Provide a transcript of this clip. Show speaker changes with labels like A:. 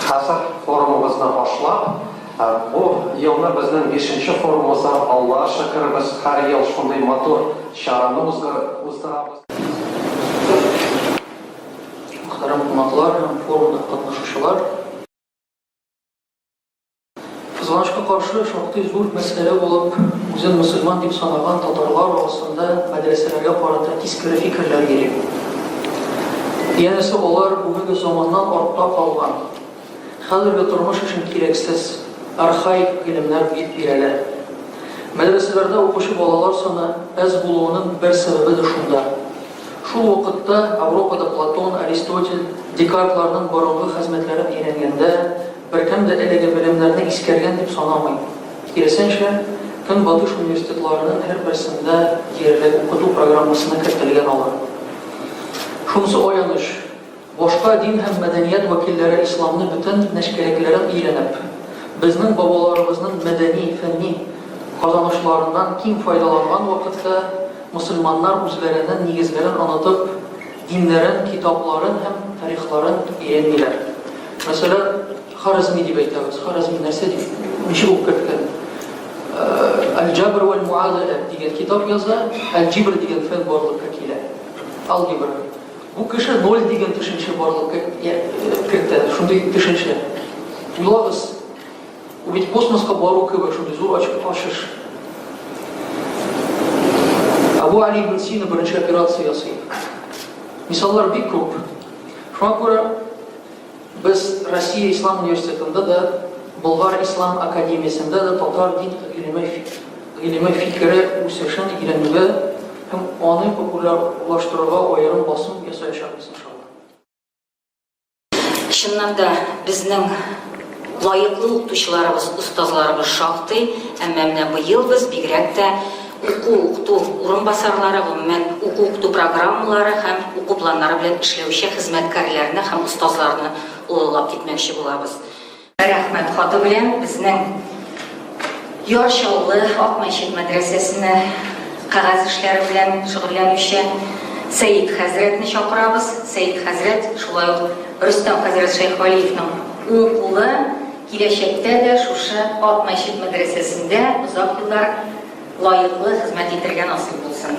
A: Хәзер форумыбызны башлап, бу елны безнең бишенче форумыбыздан Аллага шөкербез, һәр ел шундый матур чараны уздырабыз. Мөхтәрәм кунаклар һәм форумда катнашучылар! Кызганычка каршы, шактый зур мәсьәлә булып, үзен мөселман дип санаган татарлар арасында мәдрәсәләргә карата тискәре фикерләр йөри. Янәсе, алар бүгенге заманнан артта калган, хәзерге тормыш өчен кирәксез, архаик гыйлемнәр дип бирәләр. Мәдрәсәләрдә укучы балалар саны әз булуының бер сәбәбе дә шунда. Шул вакытта Европада Платон, Аристотель, Декартларның борынгы хезмәтләрен өйрәнгәндә, Беркем дә әлеге белемнәрне искәргән дип санамый. Киресенчә, Көнбатыш университетларының һәрберсендә диярлек укыту программасына кертелгән алар. Шунысы аяныч, башка дин һәм мәдәният вәкилләре исламны бөтен нечкәлекләрен өйрәнеп, безнең бабаларыбызның мәдәни, фәнни казанышларыннан киң файдаланган вакытта, мөселманнар үзләренең нигезләрен онытып, Диннәрен, китапларын һәм тарихларын өйрәнмиләр. Мәсәлән, Харәзми дип әйтәбез. Харәзми нәрсә дип, ничек укып керткән? Аль-Җабр вәл Муадала дигән китап яза, Аль-Җибр дигән фән барлыкка килә. Алгебра. Бу кеше ноль дигән төшенчә барлыкка кертә, шундый төшенчә. Уйлагыз, Ул бит космоска бару кебек шундый зур ачыш. Абу Али ибн Сина беренче операция ясый. Мисаллар бик күп. Шуңа күрә без Россия Ислам университетында да, Болгар Ислам академиясендә дә татар дин гыйлеме гыйлеме фикере үсешен өйрәнүгә һәм аны популярлаштыруга аерым басым ясаячакбыз иншалла. Чыннан да безнең лаеклы укытучыларыбыз, остазларыбыз шактый, әмма менә быел без бигрәк тә уку укыту урынбасарлары, гомумән уку укыту программалары һәм уку планнары белән эшләүче хезмәткәрләрне һәм остазларны олылап китмәкче булабыз. Рәхмәт хаты белән безнең Яр Чаллы Ак мәчет мәдрәсәсенә кәгазь эшләре белән шөгыльләнүче Сәйд хәзрәтне чакырабыз. Сәйд хәзрәт шулай ук Рөстәм хәзрәт Шәйхвалиевның уң кулы киләчәктә дә шушы Ак мәчет мәдрәсәсендә озак еллар лаеклы хезмәт итәргә насыйп булсын.